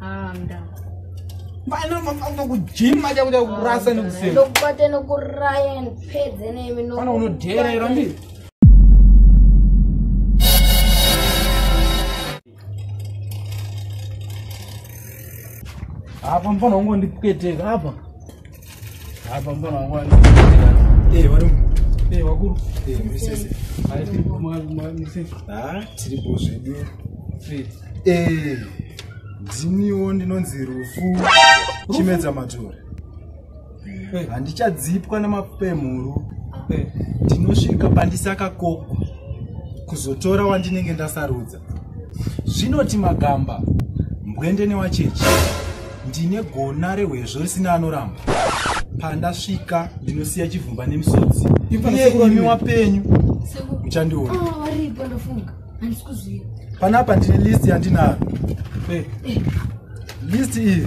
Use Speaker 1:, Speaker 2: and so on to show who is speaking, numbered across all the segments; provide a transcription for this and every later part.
Speaker 1: Anda. Bana mafamba kujima aja kuda kurasa nekusema. Ndokubate nokuraya
Speaker 2: ndipedze nemi no. Bana unodera ira
Speaker 1: mbi. Apa mfana wangu ndipweteka apa. tiripo
Speaker 3: zvedu ndiniwo ndinonzi rufu chimedza matore handichadzipwa namapemhuru ndinosvika pandisakakokwa kuzotora wandinenge ndasarudza zvinoti magamba mbwende newachechi ndine gona rehwezvo risina anoramba pandasvika ndinosiya chivhumba nemisodzi iyemi wapenyu uchandiona ah,
Speaker 2: panapa ndine
Speaker 3: list yandinaro eh. eh. list iyi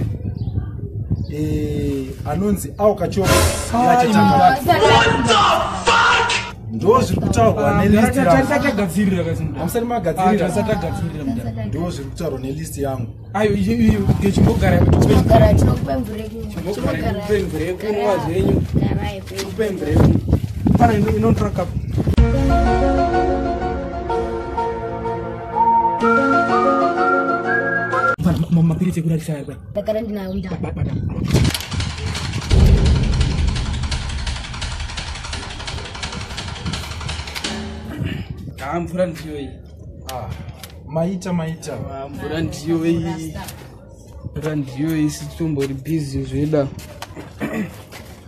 Speaker 3: eh, anonzi aukachoo ndo zviri kutaurwa ah, nelistamusati magadziriraando
Speaker 1: ah, zviri kutaurwa nelist
Speaker 3: yangu
Speaker 1: ayochimbogaraekunwazvenyupembrekunotrakapo mapiritsi ekurarisa ari pai ndagara ndinayo haa mvura ndiyo iyi ah,
Speaker 3: maita maita ah,
Speaker 1: mvura ndiyo iyi mvura ndiyo iyi sitombori bhizi zveda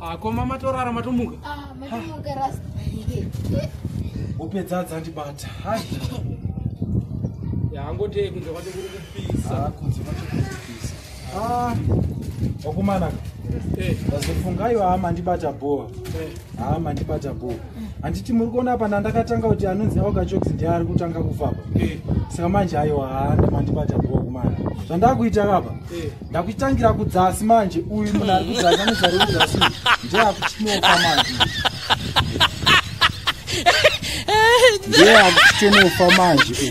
Speaker 1: Ah, koma matorara matomuka
Speaker 2: ah, upedza
Speaker 3: dzandibata
Speaker 1: yaangotei kunze kwacho kuri kupisa ah, kunze kwacho kuri
Speaker 3: kupisa wakumana eh. ndazofungaiwo haa mandibata bhoa eh. haa mandibata bhoa handiti muri kuona apa ndandakatanga kuti anonzi augachoks ndiye ari kutanga kufaba eh. saka manje aiwa haa ndamandibata bhoa kumana zvandakuita kapa ndakuitangira kudzasi manje uyu munhu ari kudzasi anozari kudzasi ndiye akuchinofa manje ndiye akuchinofa manje uyu